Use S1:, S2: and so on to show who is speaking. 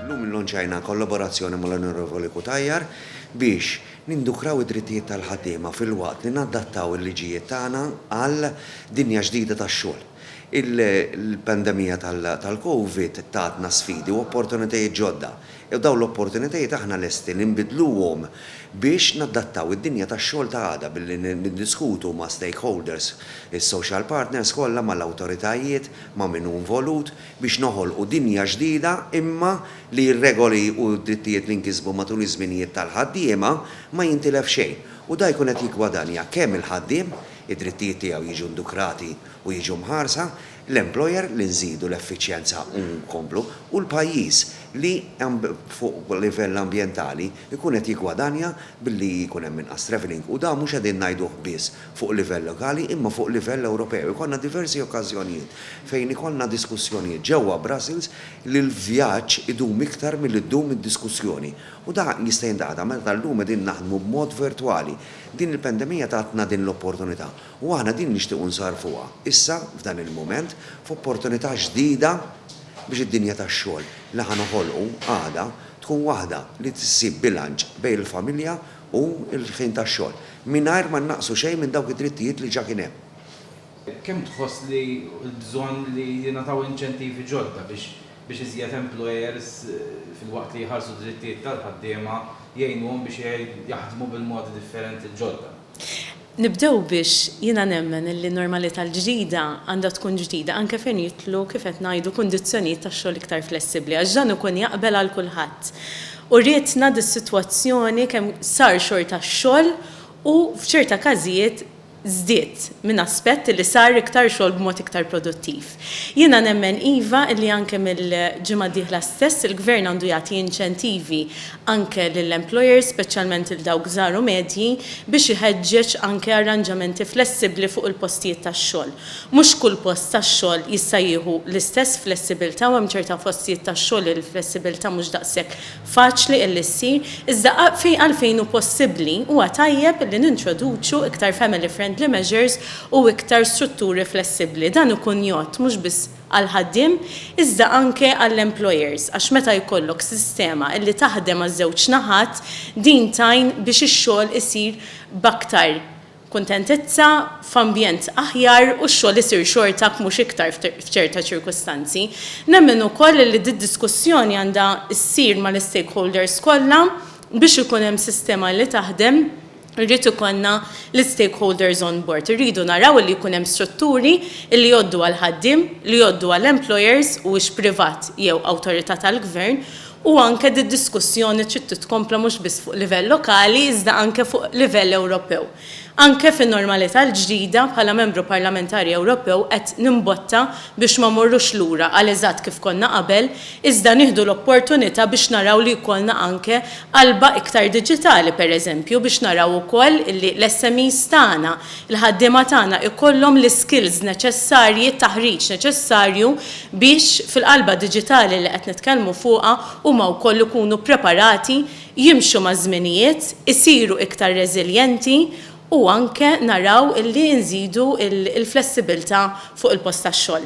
S1: Illum illonċajna kollaborazzjoni mal-Onorevoli Cutajar biex nindukraw id-drittijiet tal-ħaddiema filwaqt li nadattaw il-liġijiet tagħna għal dinja ġdida tax-xogħol. Il-pandemija tal-Covid tatna sfidi u opportunitajiet ġodda, jew dawn l-opportunitajiet aħna lesti li nbiddluhom biex nadattaw id-dinja tax-xogħol ta' għada billi niddiskutu ma' stakeholders, is-social partners kollha, mal-awtoritajiet, ma' min hu involut, biex noħolqu dinja ġdida imma li r-regoli u d-drittijiet li nkisbu matul iż-żminijiet tal-ħaddiema ma jintilef xejn u dan jkun qed jiggwadanja kemm il-ħaddiem, id-drittijiet tiegħu jiġu ndukrati u jiġu mħarsa, l-employer li nżidu l-effiċjenza u nkomplu u l-pajjiż li fuq livell ambjentali jkun qed jiggwadanja billi jkun hemm inqas travelling u dan mhux qegħdin ngħiduh biss fuq livell lokali imma fuq livell Ewropew. Ikollna diversi okkażjonijiet fejn ikollna diskussjonijiet ġewwa Brussels li l-vjaġġ idum iktar milli ddum id-diskussjoni u dan jista' jintqata' meta llum qegħdin naħdmu b'mod virtwali. Din il-pendemija tatna din l-opportunità U aħna din nixtiequ nsarrfuha issa f'dan il-mument f'opportunità ġdida biex id-dinja tax-xogħol li ħa noħolqu għada tkun waħda li ssib bilanċ bejn il-familja u l-ħin tax-xogħol mingħajr ma nnaqqsu xejn minn dawk id-drittijiet li ġa kien hemm. Kemm
S2: tħoss li l-bżonn li jingħataw inċentivi ġodda biex iżjed employers filwaqt li jħarsu d-drittijiet tal-ħaddiema jgħinuhom biex jaħdmu bil-modi differenti l-ġodda? Nibdew
S3: biex jiena nemmen li n-normalità l-ġdida għandha tkun ġdida anke fejn jidħlu kif qed ngħidu kundizzjonijiet tax-xogħol iktar flessibbli għax dan ikun jaqbel għal kulħadd. Urietna dis-sitwazzjoni kemm sar xorta x-xogħol u f'ċerta każijiet żdied minn aspett li sar iktar xogħol b'mod iktar produttiv. Jiena nemmen iva li anke mill-ġimgħa d-dieħla stess il-Gvern għandu jagħti inċentivi anke lill-employers, speċjalment lil dawk żgħar u medji, biex iħeġġeġ anke arranġamenti flessibbli fuq il-postijiet tax-xogħol. Mhux kull post tax-xogħol jista' jieħu l-istess flessibilità u hemm ċerta postijiet tax-xogħol li l-flessibilità mhux daqshekk faċli illi ssir, iżda għalfejn hu possibbli, huwa tajjeb li nintroduċu iktar family friendly measures u iktar strutturi flessibbli. Dan ikun jgħodd mhux biss għall-ħaddiem, iżda anke għall-employers, għax meta jkollok sistema illi taħdem għaż-żewġ naħat, din tgħin biex ix-xogħol isir b'aktar, kuntentizza, f'ambjent aħjar u x-xogħol isir xorta jekk mhux iktar f'ċerta ċirkustanzi. Nemmen ukoll li d-diskussjoni għandha ssir mal-istakeholders kollha biex ikun hemm sistema li taħdem irrid ikollna l-istakeholders on board. Irridu naraw li jkun hemm strutturi li jgħoddu għall-ħaddiem, li jgħoddu għall-employers huwiex privat jew awtorità tal-gvern, u anke d-diskussjoni trid titkompla mhux biss fuq livell lokali iżda anke fuq livell Ewropew. Anke fin-normalità l-ġdida, bħala Membru Parlamentari Ewropew qed nimbotta biex ma mmorrux lura għal eżatt kif konna qabel iżda nieħdu l-opportunità biex naraw li jkollna anke qalba iktar diġitali pereżempju biex naraw ukoll li l-SMEs tagħna il-ħaddiema tagħna jkollhom l-iskills neċessarji, t-taħriġ neċessarju biex fil-qalba diġitali li qed nitkellmu fuqha huma wkoll ikunu ppreparati jimxu maż-żminijiet, isiru iktar reżiljenti u anke naraw li nżidu l-flessibilità fuq il-post tax-xogħol.